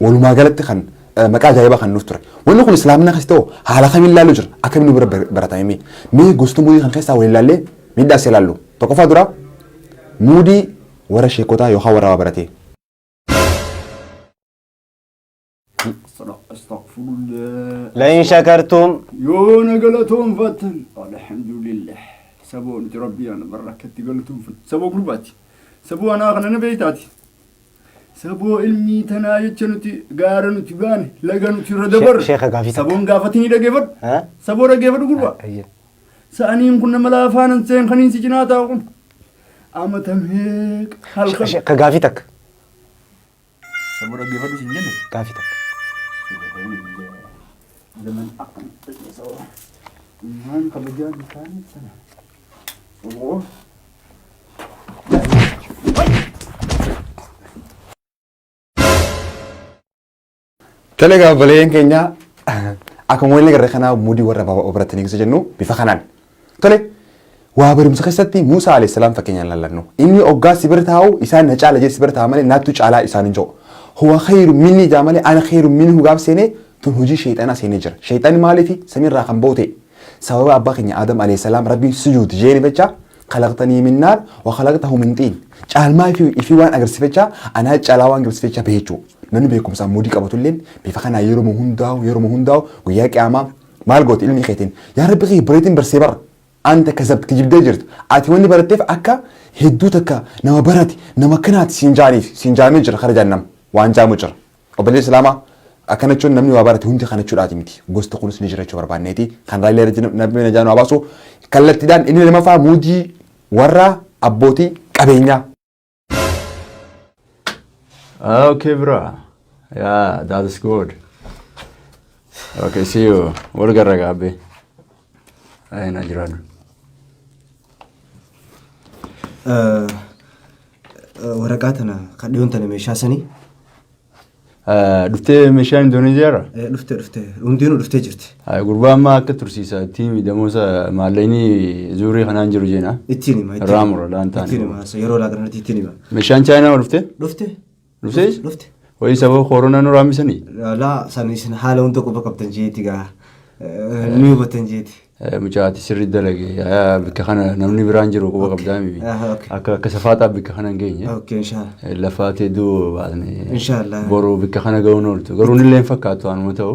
Walumaa galatti kan maqaa ajaa'ibaa kan nuuf ture. Wanni kun Islaamina keessatti hoo haala kamiin ilaaluu jira? Akkamiin nu bira baratame mee? Mee gosoota muudii kan keessaa waliin ilaallee miidhaa isaa ilaallu. Tokkoffaa dura muudii warra sheekotaa yookaan warra waa baratee. Astagfirullah. لئن شكرتم Yoo na galatoomfattan alhamdulillah saboo nuti rabbii ana barra akkatti galatoomfatu saboo gurbaati saboo anaa kana na beeytaati Saboo ilmii tanaa jecha nuti gaara nuti baane laga nuti irra dabarre. sheekha gaafii takka. Saboon gaafati ni dhageeffadhu. Haa? Saboo dhageeffadhu gurbaa. Ayyee. Sa'aniin kun nama laafaan hin seen kaniin si cinaa taa'u kun. Amata meeqa halkan. Sheekha gaafii takka. Saboo dhageeffadhu sin jenne. Gaafii takka. Zaman akkan. Waan kabajaan isaanii sana. Tole egaa obboleeyyan keenya akkuma waliin agarre kanaa mudii warra baaba ofiratti eegsisu jennu bifa kanaan. Tole waa barumsa keessatti Muusaa alayhi salaam fakkeenyaan laallannu. Inni oggaa si bira taa'u isaan na caala jedhe si bira taa'a malee naattu caalaa isaan hin jedhu. Huwa khayru minni jaa malee ana khayru minni hugaaf seenee tun hojii sheexanaa seenee jira. Sheexanni maaliifi samiirraa kan boote Sababa Abbaa keenya Aadam Aleessalaam Rabbiin sujuud jeeni fecha khalaqtanii min naar wa khalaqtahu min xiin caalmaa ifii ifii waan agarsi fecha anaa caalaa waan agarsi fecha beechuu namni beekumsa ammuudii qabatulleen bifa kanaa yeruma hundaa'u yeruma hundaa'u guyyaa qiyaamaa maal gooti ilmi keetiin yaa rabbi kiyya bareetiin barsee bara anta kasab kijibdee jirtu ati wanni baratteef akka hedduu takka nama barate nama akkanaati siin jaaniif siin jaamee jira kara jaannam waan jaamu jira Obboleessa Islaamaa, akkana jechuun namni waa barate hundi kana jechuudhaati miti. Gosti kunis ni jira jechuu barbaanneeti. Kan irraa illee irra Rabbiin najaa nu haa baasu. Kallattiidhaan inni lamaffaa muudii warra abbootii qabeenyaa. Ah, okay, bro. Yeah, that is good. Okay, see you. Wal garra gaabbe. Ayina jiraadhu. Eh, Waraqaa tana kan dhiyoon tana meeshaa sanii. Dhuftee meeshaa Indooneeziyaa irraa? Eh, Dhuftee dhuftee hundinuu dhuftee jirti. Gurbaa ammaa akka tursiisa ittiin miidhamoota maallaqni zuurii kanaan jiru jeena. Ittiin hima. ittiin hima. Raamura laan taane. Ittiin hima. Yeroo laa kanarratti ittiin hima. Meeshaan chaayinaa ol dhuftee? Dhuftee? Dhuftees? Dhufte. Wayii sababa koronaa nu raammisanii? Laa san isin haala hunda quba qabdan jeeti gaa. Ni hubatan jeeti. Eh, Mucaa ati sirri dalage Ah, bakka kana namni biraan jiru quba qabdaa miti. Ah, okay. Akka akka safaaxaa bakka kana hin geenye. Okay, inshallah. Eh, Lafaa teedduu baasne. Inshallah. Boru bakka kana ga'uun ooltu. Garuu nillee hin fakkaatu anuma ta'u.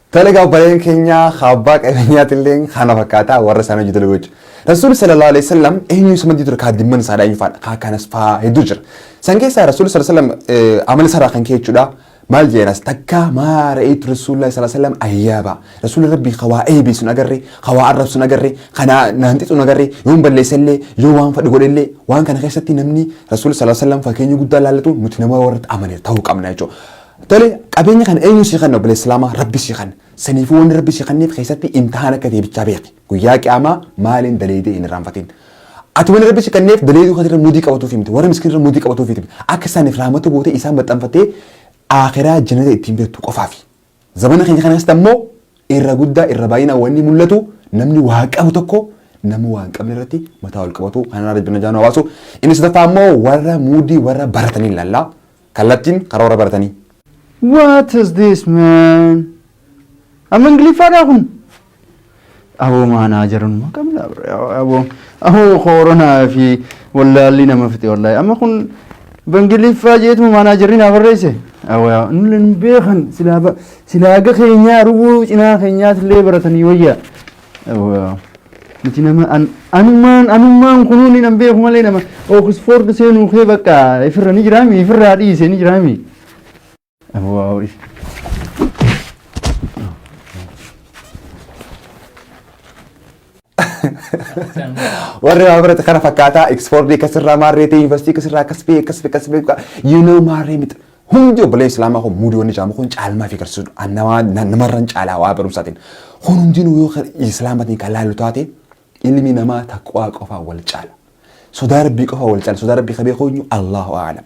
Tole egaa obboleeyyan keenya haa abbaa qabeenyaati illee kana fakkaata warra isaan hojii dalaguu jechuudha. Rasuulli sallallahu alaihi wasallam eenyu isa maddii ture kaadimman isaa dha eenyu faadha kaa kanas faa hedduu jira. San keessaa rasuulli sallallahu alaihi wasallam amala isaarraa kan ka'e jechuudha. Maal jeenas takka maa ra'eetu rasuulli sallallahu alaihi wasallam ayyaaba. Rasuulli rabbii kawaa eebee sun agarre kawaa arrab sun agarre kanaa naanti sun agarre yoon balleessa illee yoo waan fadhi godhe illee waan kana keessatti namni rasuulli sallallahu alaihi wasallam fakkeenya guddaa laallatu nuti nama warratti amane ta'uu qabna jechuudha. Tole qabeenya kana eenyu sii kanna obboleessa islaamaa rabbi sii kanna saniifuu wanni rabbi sii kanneef keessatti imtihaan akka ta'e bichaa beeki guyyaa qiyaamaa maaliin daleeydee hin irraanfatin ati wanni rabbi sii kanneef daleeyduu kan irra mudii qabatuuf himte warra miskiin irra mudii qabatuuf himte akka isaaniif raamata gootee isaan maxxanfattee aakiraa jannata ittiin beektu qofaafi zabana keenya kana keessatti ammoo irra guddaa irra baay'inaa wanni mul'atu namni waa qabu tokko nama waan qabne irratti mataa ol qabatu kanarraa rabbi na jaanu hawaasu inni sadaffaa ammoo warra muudii warra baratanii ilaallaa Kallattiin karoora baratanii. What is this man? Amma Ingiliffaadhaa kun? Aboo maanaa jiranuma qabna bre. Aboo aboo kooronaa fi wallaalli nama fite wallaahi. Amma kun bangiliffaa jeetuma maanaa jirri naa barreesse. Aboo yaa nullee nu beekan silaa ba- silaa aga keenyaa rubuu cinaa keenyaas illee baratanii wayyaa. Nuti nama anumaan anumaan kunuun hin beeku malee nama Oxford seenuu kee bakka ifirra ni jiraami ifirraa dhiise ni jiraami. Warri waa barate kana fakkaataa Oxford akkasirraa maarreetii yuunivarsiitii akkasirraa akkas bee akkas bee akkas bee you know maarree miti. Hundi obboleen Islaamaa kun muudii wanni jaamu kun caalmaa fi garsiisudha. An namaa na- namarran caalaa waa barumsaatiin. Kun hundinuu yoo kan Islaamatiin kan laallu taate ilmi namaa taqwaa qofaa wal caala. Sodaa rabbii qofaa wal caala. Sodaa rabbii qabee koonyu Allahu a'alam.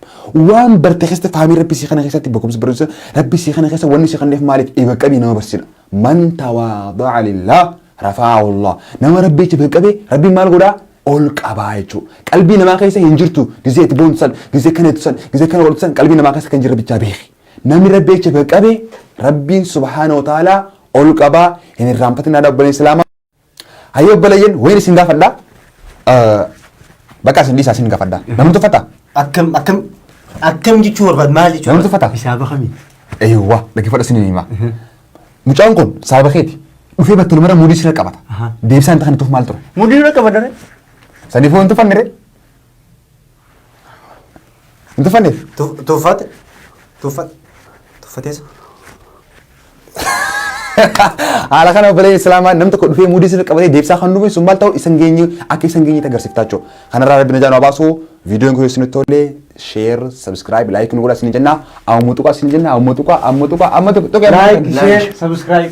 Waan barte keessatti faamii rabbi sii kana keessatti beekumsa barumsa rabbi sii kana keessa wanni sii kanneef maaliif iba qabii nama barsiisudha. Man tawaada'a lillah rafa'ahu Allah. Nama Rabbiitti gad qabe Rabbiin maal godhaa? Ol qabaa jechuu. Qalbii namaa keessa hin jirtu gizee itti boontu san, gizee akkana jettu san, gizee akkana godhatu san qalbii namaa keessa kan jirre bichaa beeki. Namni Rabbiitti gad qabe Rabbiin subhaanahu wa ta'aalaa ol qabaa hin irraanfatinaa dha obboleen Islaamaa. Hayyee obboleeyyan wayin isin gaafadha. Bakka isin dhiisaa isin gaafadha. Namni tuffataa? Akkam akkam akkam jechuu barbaad maal jechuu? Namni tuffataa? Hisaaba kamii? Eewwa dhaggeeffadha isin himaa. Mucaan kun sababa keeti dhufee battalumara mudii sirra qabata. Deebisaan inta kan tuuf maal ture? Mudii sirra qabata. Saniifuu hin tuffannire. Hin tuffanneef. Tu- Tuffate. Tuffate. Tuffateessa. Haala kana obboleen Islaamaa nam tokko dhufee muudii sirrii qabatee deebisaa kan dhufe sun maal ta'u isan geenye akka isan geenye agarsiiftaa jechuudha. Kanarraa rabbi najaa nu baasu viidiyoon kun isinitti tolle sheer sabskiraayib laayik nu godha isin jenna ammoo tuqaa isin jenna ammoo tuqaa ammoo tuqaa ammoo tuqaa. Like, share, subscribe.